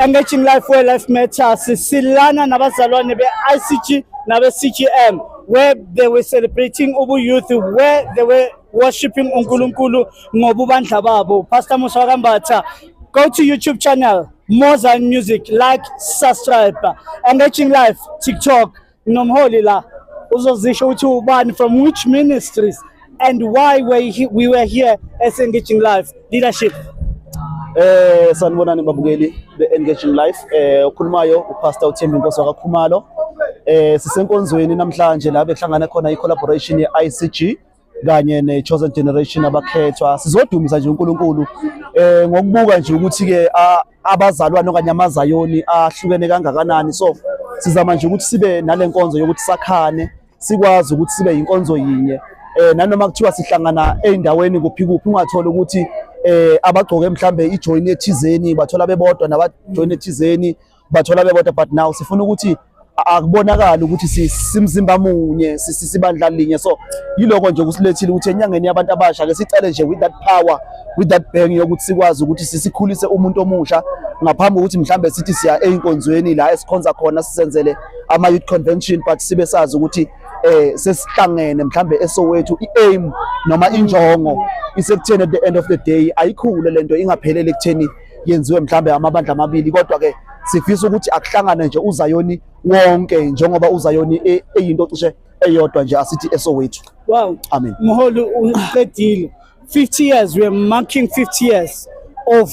Emerging Life Where Life Matters silana nabazalwane be-ICG nabe-CGM where they were celebrating ubu youth where they were worshiping uNkulunkulu ngobubandla babo Pastor Musa wakambatha go to YouTube channel Mozan Music like subscribe Emerging Life TikTok Nomholi la uzozisho ukuthi ubani from which ministries and why we, we were here as engaging life leadership Eh sanibonani babukeli be-engaging life eh okhulumayo upastor uthembi nkosi wakakhumalo eh sisenkonzweni namhlanje la bekuhlangana khona i-collaboration ye-icg kanye ne-chosen generation abakhethwa sizodumisa nje uNkulunkulu eh ngokubuka nje ukuthi ke abazalwane okanye amazayoni ahlukene kangakanani so sizama nje ukuthi sibe nalenkonzo yokuthi sakhane sikwazi ukuthi sibe inkonzo yinye eh nanoma kuthiwa sihlangana eindaweni kuphi kuphi ungathola ukuthi eh abagcoke mhlambe ijoin ethizeni bathola bebodwa nabajoin ethizeni bathola bebodwa but now sifuna ukuthi akubonakala ukuthi simzimba munye sisibandla linye so yiloko nje kusilethile ukuthi enyangeni yabantu abasha ke sicale nje with that power with that bang yokuthi sikwazi ukuthi sisikhulise umuntu omusha ngaphambi kokuthi mhlambe sithi siya einkonzweni la esikhonza khona sisenzele ama youth convention but sibe sazi ukuthi eh sesihlangene mhlambe esowethu iaim noma injongo isekutheni at the end of the day ayikhule lento ingaphelele kutheni yenziwe mhlambe amabandla amabili kodwa ke sifisa ukuthi akuhlangane nje uzayoni wonke njengoba uzayoni e, eyinto cishe eyodwa nje asithi esowethu wow amen mholi uqedile 50 years we are marking 50 years of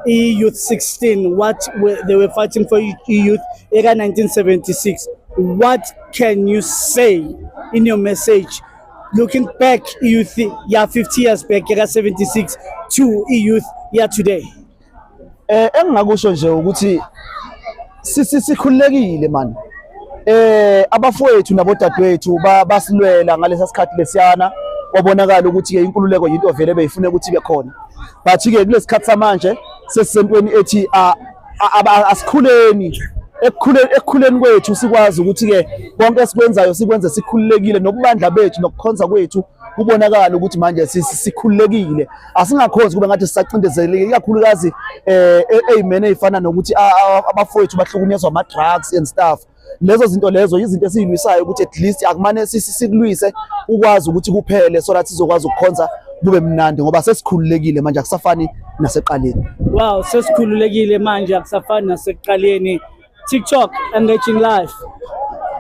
e youth 16 what were, they were fighting for e youth eka 1976 what can you say in your message looking back youth ya 50 years back yaka 76 to youth ya today eh engingakusho nje ukuthi sisi sikhululekile man eh abafowethu nabodadewethu basilwela ngalesa sikhathi lesiyana kwabonakala ukuthi ke inkululeko yinto vele beyifuna ukuthi ibe khona but ke kulesikhathi samanje sesisentweni ethi asikhuleni ekukhuleni ekukhuleni kwethu sikwazi ukuthi ke konke esikwenzayo sikwenze sikhululekile nokubandla bethu nokukhonza kwethu kubonakala ukuthi manje sikhululekile asingakhonzi kube ngathi sisacindezelekile ikakhulukazi eh e-, amen eyifana nokuthi abafowethu bahlukunyezwa ama drugs and stuff lezo zinto lezo yizinto esiyilwisayo ukuthi at least akumane sikulwise ukwazi ukuthi kuphele so that sizokwazi ukukhonza kube mnandi ngoba sesikhululekile manje akusafani naseqaleni wow sesikhululekile manje akusafani naseqaleni TikTok engaging live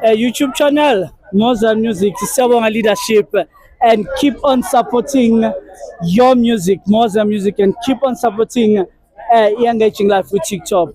uh, YouTube channel Moza Music siyabonga leadership and keep on supporting your music Moza Music and keep on supporting uh, engaging live with TikTok